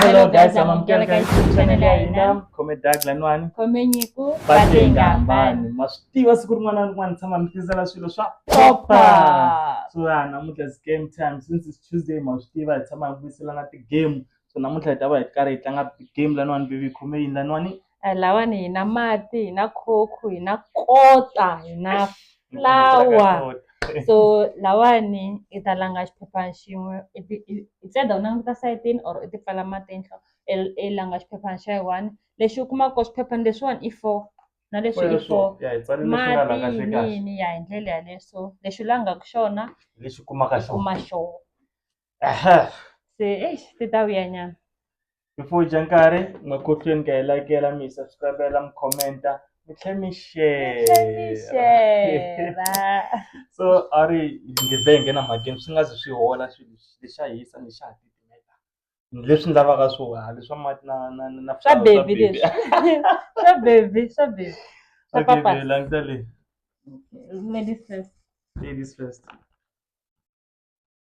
Hello guys, amamukela ka YouTube channel ya hina khome Doug Lanwani khome Nyiko Batengambani ma swi tiva siku rin'wana na rin'wana tshama mi tisela swilo swa popa so ya namuntlha is game time since it's Tuesday ma swi tiva hi tshama hi vuyiselana ti-game so namuntlha hi ta va hi karhi hi tlanga game Lanwani baby khome yini Lanwani lahawani hi na mati hi na coke hi na kota hi na flower so lawani i ta langa xiphephana xin'we instead u languta sayitini or u ti pfala matihlo i langa xiphephana xa yi one lexi u kumaka ko swiphephana leswiwani i four na leswi i four mati yini ya hi ndlela yaleyo so lexi u langaka xona lexi kumaka xona kuma xona. Aha. se eish ti ta vuya nyana Before hi dya nkarhi, makhohlweni ka hi lakela, mi hi subscribela, mi commenta, mi tlhela mi share. Share. So a ri ndleve hi nghena mhakeni swi nga zi swi hola swilo leswi xa hisa ni xa titimeta. Leswi ni lavaka swo ha leswa mati na na na na swa flower, baby leswi swa baby swa baby swa Okay, papa babe, languta leyi. ladies first Ladies first.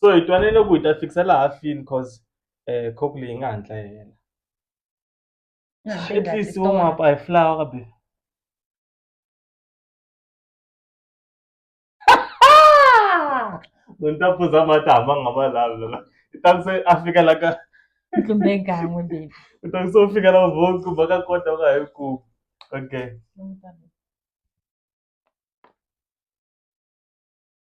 so hi twanile ku hi ta fikisa laha fini cause um cock leyi nga hatla yi hela at least wo mapa hi flower be no ni ta phuza mati hamba nga ma lavi lona i ta ku se a fika la ka ntlumbe gan'we baby u ta ku se u fika la vote ku va ka kota u nga hi ku okay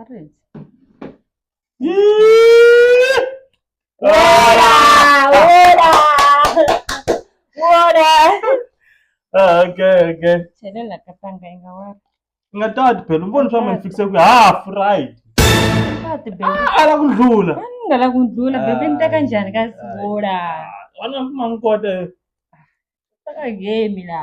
arenze Ah, okay okay chele lakatanga inga wari ngatati phela umboni swa manifikise ku half right kati bebe ala ku ndlula ngala kundlula bebe ni teka njhani ka sivola wana kuma ni kota taka game la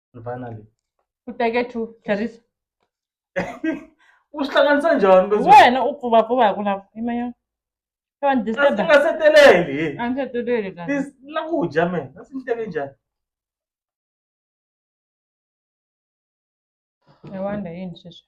And finally u teke two tlherisa u swi hlanganisa njhani leswi? wena u pfuvapfuva hi ku lava yimanyana se wa ni Kasi disturba nga se teleli a ni se teleli kahle This- la ku dya me a swi ni teke njhani i wonder yini sweswi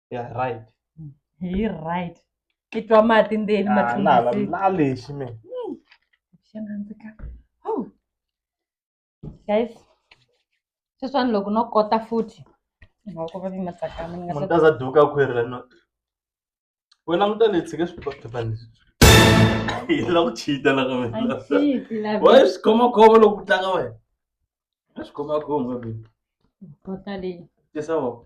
ya right hi right i twa mati ndzeni Ah, na- na- matlhonga na lexi me xana ndzi ka oh guys sweswani loko no kota futhi nga ku va ni matsakama ni nga munhu ta za duka khwiri la no we languta leyi tshike swipapani yi la ku cheata la ka wena Anxiety, love wa it. swi khoma khoma loko ku tlanga wena a swi khoma khoma baby kota leyi tisa wa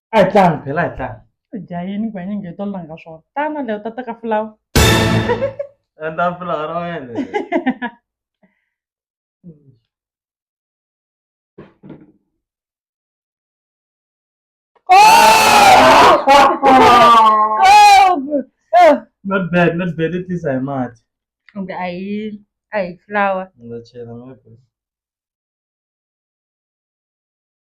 a hi tlangi phela a hi tlangi dya yini ku hanya ngeto langa swona tana leyo ta teka fulawa endla fulawa ra wena not bad not bad at least i mad kumbe a hi a hi fulawa ndza chela ngopfu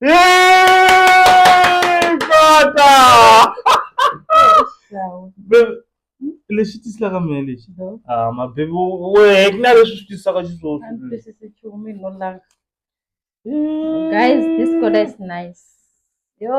Yay! Kota! Baby, lexi tiselaka mina lexi ah mabebi wehe ku na leswi swi tisaka xiswoswi Guys, this color is nice. Yo.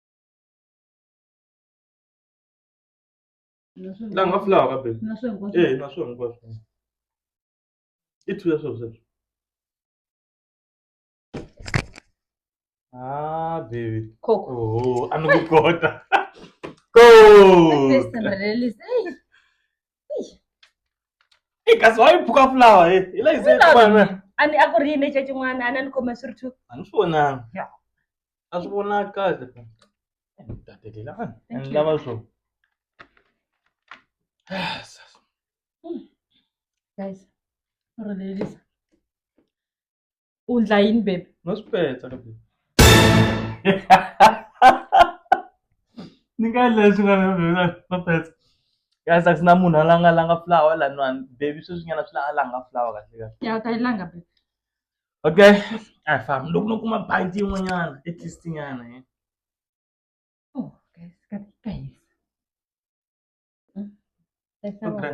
la nga fulawa ka bebe na swona hinkwaswo ee na swona hinkwaswo i two ya swona sweswo ah bebe coco oho a ni ku kota ko First time release. Hey, i kasi wa yi phuka fulawa hi hi la yi se Fulawa. kuma na a ni a ku ri yini exa xin'wana a ni a ni khoma swi ri two a ni swi vonanga Ya. a swi vonaka kahle tatelela a Thank ni you. lava swo Ah, sasa. guys ro lelisa u ndla yini baby no swi petsa ka baby ni nga endla leswi nga na baby no petsa kasi a ku na munhu a la nga langa flower laniwani baby sweswi nyana swi la a langa flower kahle kahle ya ta yi langa baby okay a hi fambi loko no kuma bangi yin'wanyana at least nyana eh. oh guys ka ka hisa Hmm? Hisa wa- Okay.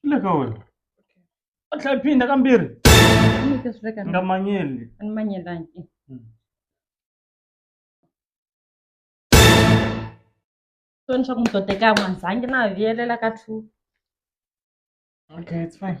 Swi le ka wena. A tlhela phinda ka mbirhi. Ni ta swi veka Nga ni- manyeli. a ni manyelangi. Soni swa ku ni to teka n'wanzangi na ha viyelela ka two. Okay, it's fine.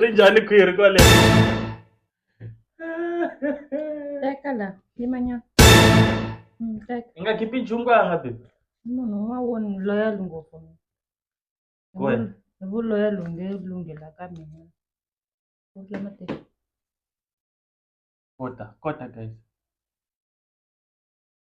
ri njhani khwiri kwale teka la yimanyana Mm, teka i nga khipi nchumu ka nga bebi i munhu un'wana wo ni loyal ngopfu mina. Hi Wena? vu- hi vu loyal u nge lunghela ka mina Ku ri lama teka. kota kota guys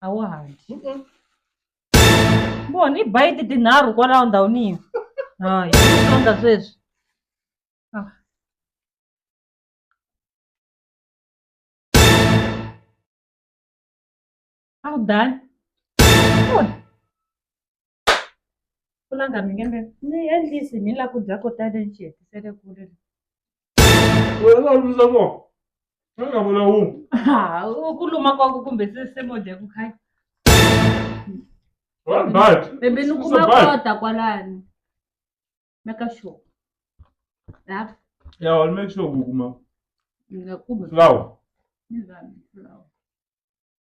a wa ha dyi Mm-mm. vona i bayiti tinharhu kwalaho ndhawini yo hayi tonga sweswi Ah. a wu dani kulanga mi nge mi ni endlisi mi la ku dya ko tale ni xi hetisele kule ku luma kwaku kumbe sesemodya ku khaya bebe ni kuma kota kwalani meka sure ya wal make sure ku kuma flower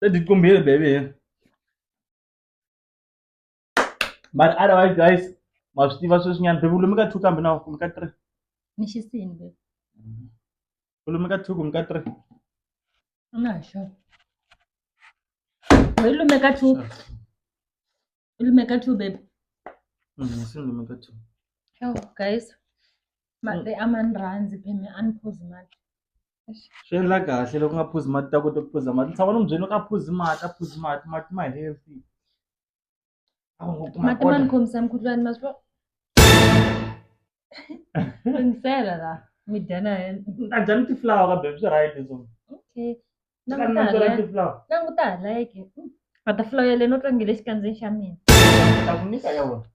Sasa diko mbele bebe. But otherwise guys, masitiva sweswi nyana bebe ulumi ka 2 kambe na kumbe ka 3. Ni xisini babe. Ulumi ka 2 kumbe ka 3. Nga ha xava. Hi lume ka two. Ulimeka tu babe. Mm, si ndi meka tu. Yo guys. Mati mm. amanrhanzi pheme aniphuzi mati. Swi endla kahle loko nga phuzi mati ta kota ku phuza mati. Tshama ni mubyeni ka phuzi mati, a phuzi mati, mati ma healthy. Mati ma ni khomisa mukhuhlwani ma swi Lunghisela la mi dya na yena. A dya ni ti-flower ka baby swi right so. Okay. Ka Languta nantswo ra hala. ti-flower. Languta hala yeke. Mm. A ta flower le no tlangile xikandzeni xa mina. Ni ta ku nyika ya wena.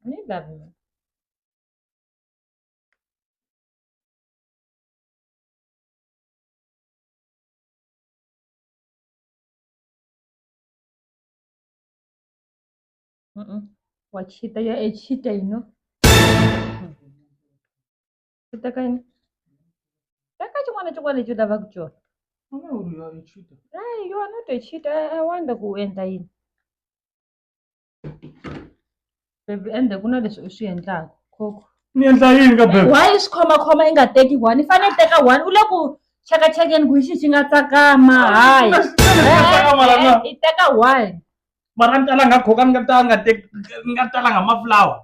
Ni love mina. Mm-mm. Wachita ya echita ino. Chita kaini. Taka chimwana chimwana chita vakuchora. Mwana uyu aichita. Right, you are not a cheater. I, I wonder who enter in. Baby, and the kuna leswi u swi endlaka. Khokho. Ni endla yini ka bebe? Why is khoma khoma yi nga teki one? I fanele teka one. U le ku cheka chekeni ku xi xi nga tsakama. Hayi. Xi nga tsakama la na. Eh, eh, I teka one. mara ni talanga coca ni nga ta nga te ni nga talanga mafulawa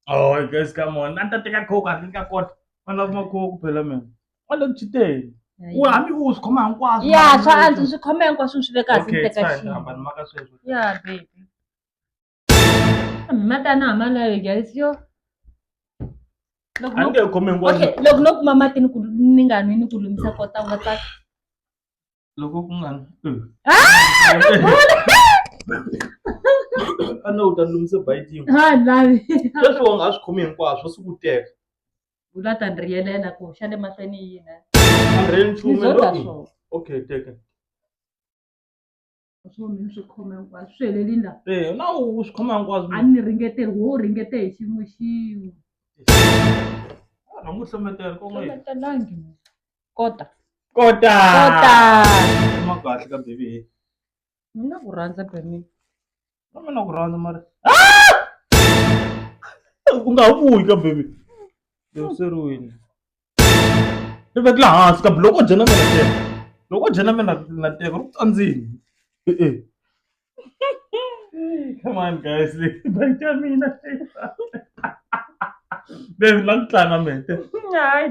oh guys come on a ni ta teka coca ni nga kota va lava macoca phela mina va le chiteni u hambi u swi khoma hinkwaswo ya swa antswa swi khoma hinkwaswo swi le kahle ni okay teka fine xin'we hambani maka sweswo ya baby matana ha malayo guys yo loko a ni no nge khomi hinkwaswo okay loko no kuma mati ni ku ni nga nwi ni ku lumisa kota u nga tsaka loko ku nga a no u ta lumise bayitini sweswi wa nga ha swi khomi hinkwaswo swi ku teka u la ta ni riyelela ku xa le mahlweni yini a ri nchumu okay teka a swi vona ni swi khoma hinkwaswo swi helelini la eya na u swi khoma hinkwaswo a ni ringeteli wo ringete hi xin'we xin'we rhanga u hlometela kon'we hlometelangi kota kota kota ma kahle ka baby he mina ku rhandza bemini na mina ku rhandza mara u nga ha vuyi ka baby loseriwini ri veke laha hansi kambe loko o dya na mina teka loko o dya na mina na teka ri ku tsandzini e-e come on guys bank ya mina be la ku tlanga mete hayi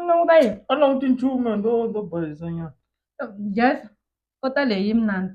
languta yini a languti nchumu ndo ndo bayisanyana yes kota leyi mnandi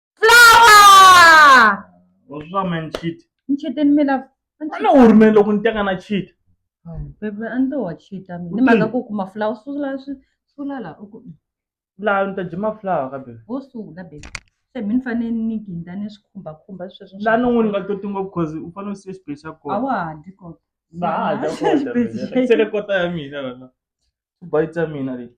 flower What's wrong man cheat? ngitshiteni mina Ana uri mina loko ni teka na cheat. bebe a ni to wa chita mina ni mhaka ku kuma flower sula swi sula la u ku Laha ni ta dya mafulawa ka bebe. ho sula bebe se mi ni fanele ni ginda ni swi khumbakhumba sweswo Laha ni n'wini nga toti ngopfu cause u fanele u siya xibye xa a kona. wa ha dyi kona Ndza ha dya kota mina. Se le kota ya mina lana. Tibayi ta mina leti.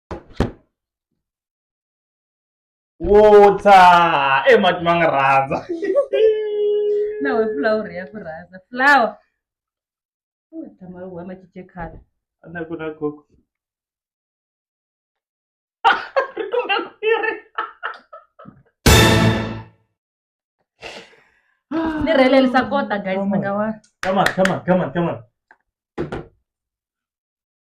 water e mati ma nga rhandza na we flower ya ku rhandza flower u tshama u huma chiche khale na ku na gogo ri kumbe ku ri ni rhelelisa kota guys mi nga wa come on come on come on come on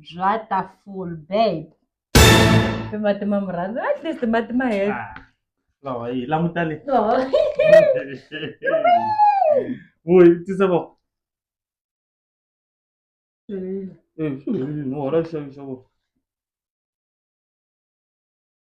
bya ta full babe timatima murhandzi at least matima head Ah, lawa yi languta le vuyi tisa vo Eh, swi helile, no, hola xixevo xixevo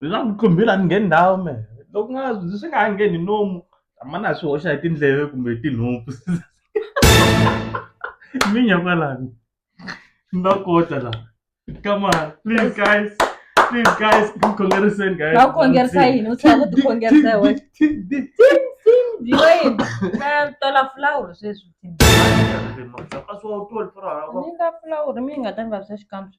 leswaku qumbhile a ni ngheni ndhawu me loko nga swi nga ha ngheni nomu mani a swi hoxa hi tindleve kumbe hi tinhompfu minya kwalani na kota la come on please guys please guys khongeriseni guys va khongerisa yini u tlhela ku tikhongerisa hi wena na tola fulawuri sweswi ni nga fulawuri mi nga ta nga swa xikambi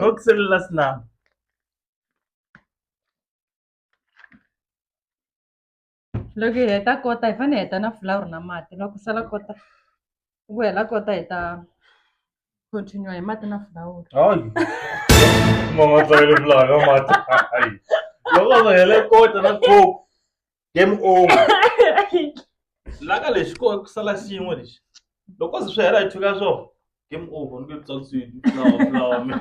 Guck sie lassen nach. loko hi heta kota hi fanele hi heta na fulawuri na mati loko sala kota ku hela kota hi ta continue hi mati na fulawuri hayi mama tsakele fulawuri na mati loko va hele kota na coke game over laka lexi ko ku sala xin'we lexi loko se swi hela hi thika swo game over ni ku tsakisiwi fulawa fulawa mi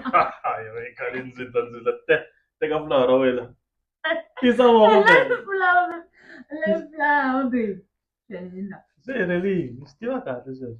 hayi va khale ndzi ta ndzi ta te teka fulawa ra wena tisa moko se helelini swi tiva kahle sweswo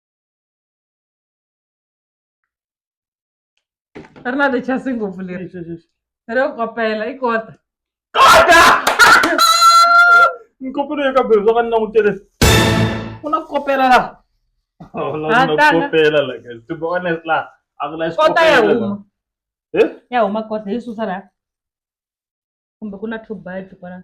ri na lechasi ngopfu leri ro kopela i kota kota nkopelo yo ka bebe swa ka ni langutele ku na ku kopela laha kopela like to be honest laha a ku na xikota ya huma eh? ya huma kota yi susa laha kumbe ku na two bite kwala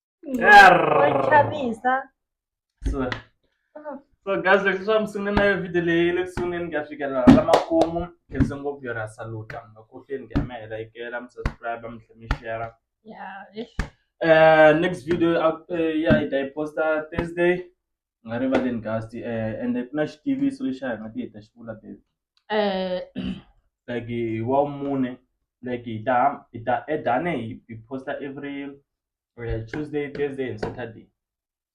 chavisa so so guys leswi swa musungule na yo video leyi le kusunguleni ku ya fikelela la makumu khense ngopfu yo ra saluta makuhleni ku ya mi helekela mi subscribe mi tlhe mi share um next video eh, ya hi ta yi posta thursday u nga rivaleni guys um eh, ende ku na xitiviso lexi a hi nga ti hi ta xi vula baby um like hi wa mune like hi ta hi ta edane hi posta every or ya Tuesday, Thursday and Saturday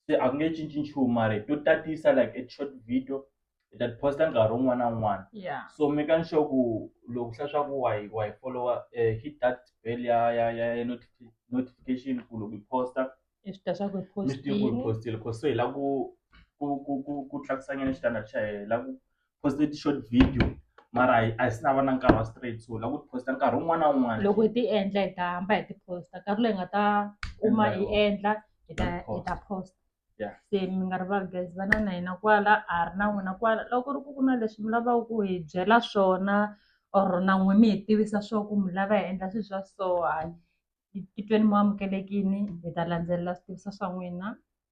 se a ku nge cinci nchumu mara hi to tatisa like a short video hi ta posta nkarhi wun'wana na wun'wana yeah so making sure ku loko hla swa ku wa yi wa yi follower eh, hit that bell ya ya ya ya notifi- notification ku loko yi posta i swi ta swa ku hi mi swi tiva ku yi postile postile cause so hi la ku ku ku ku ku tlakusanyana xitandard xa hina hi la ku poste ti short video mara hi a hi si na va na nkarhi wa straight so la ku ti posta nkarhi wun'wana na wun'wana loko hi ti endla hi ta hamba hi ti posta nkarhi loyi hi nga ta kuma hi Endla endla hi ta hi ta posta Yeah. se mi nga rivali guys va na na hina kwala a ri na n'wina kwala loko ku ri ku ku na leswi mi lavaka ku hi byela swona or na n'we mi hi tivisa swo ku mi lava hi endla swilo swa so hayi hi titweni mo amukelekini hi ta landzelela swi tivisa swa n'wina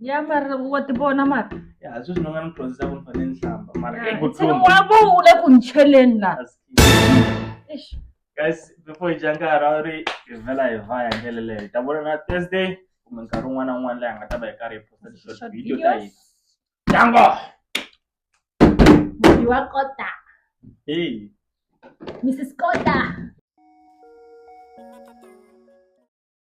ya mara wa ti vona mara ya sweswi ni nga ni dyondzisa ku ni fanele ni hlamba mara Ya, eku ntsena tlumba wa vo u le ku ni cheleni la Eish. guys before hi dya nkarhi a wu ri hi vhela hi va ya ndlela leyo hi ta vona na thursday kumbe nkarhi wun'wana na wun'wana leyi hi nga ta va hi karhi hi posta ti-short Short video ta videos. hina dango Mhani wa kota hey mrs kota